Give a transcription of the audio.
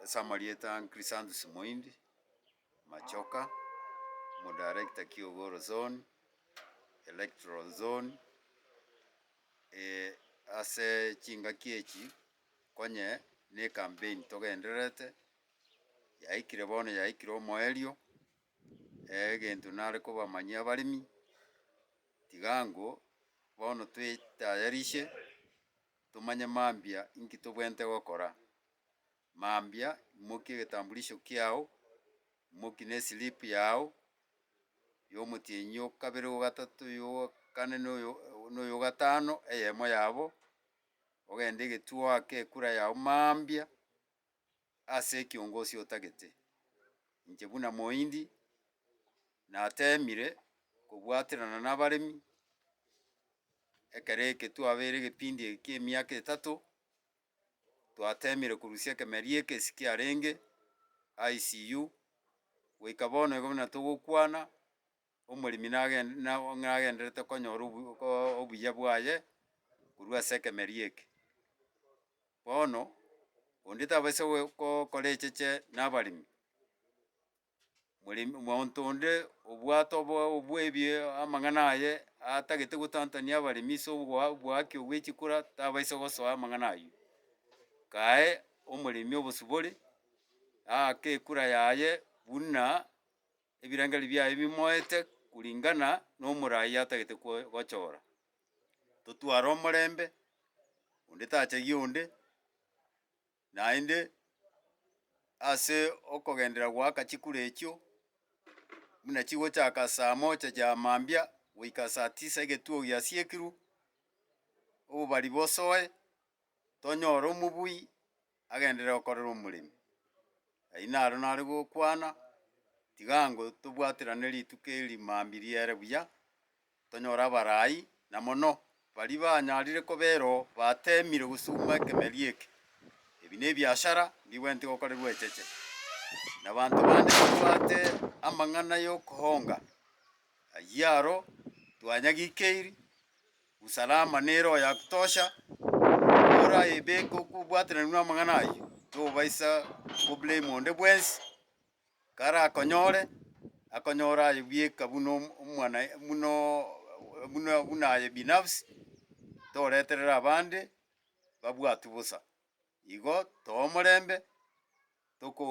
Ase amarieta aa Chrysanthus Moindi, Machoka, Omodarekta Kiogoro Zone, Electoral Zone, ase chingaki echi konye ne ecampaign togendererete, yaikire bono yaikire omoerio, egento nare kobamanyia abaremi, tiga ango bono twetayarishe. Tomanye mambia inki tobwenerete gokora. Mambia, imokia egetambulisho kiao, imoki ne eslip yao yomotienyi yokabere yogatato yokane noyo noyogatano eyemo yabo, ogende egetuo oake ekura yao mambia, ase ekiongosi otagete. Inche buna moindi nateemire kobwaterana nabaremi ekero eke twabeire egepindi eki ki'emiaka etato, twateemire korusia ekemeria eke ase kiarenge ICU, goika bono igo buna togokwana Omoremi nagen- na- nagenderete konyora obu- ko- obuya bwaye korwa ase ekemeria eke. Bono, onde tabaisa goe- ko- kora echeche na abaremi, moremi monto onde obwate obo- obwebie amang'ana aye atagete gotantania abaremi ase obogoa oboaki obwe chikora tabaisa gosoa amang'ana aywo. Kae omoremi obosibore, aake ekura yaye buna. Ebirengererio biaye bimoete kuringana nomoraai atagete gochora. Totware omorembe, onde tachagia onde, naende ase okogenderera goaka chikura echio, buna chigochaka saa moja ya mambia goika saa tisa egetuo giasiekirwe, obobari bosoe. tonyore omobui agenderere gokorera omoremi. Ayio naro nare gokwana, tiga ango tobwaterane rituko eri mambia riere buya, tonyore abarai, na mono baria banyarire koba ero batemire gosuguma ekemeria eke. Ebi nebiachara mbigwenereti gokorerwa echeche, na abanto bande babwate amang'ana y'okohonga. Ayio aro twanyagikeirie. Usalama nere oyakutosha, oraebeke okobwatananigwa namang'ana ayio, tobaisa koblame onde bwensi, karakonyore, akonyore aye bweka buna omo omwana bunoo buna buna aye binafsi, toreterera abande babwatwe bosa. Igo too omorembe, tokore.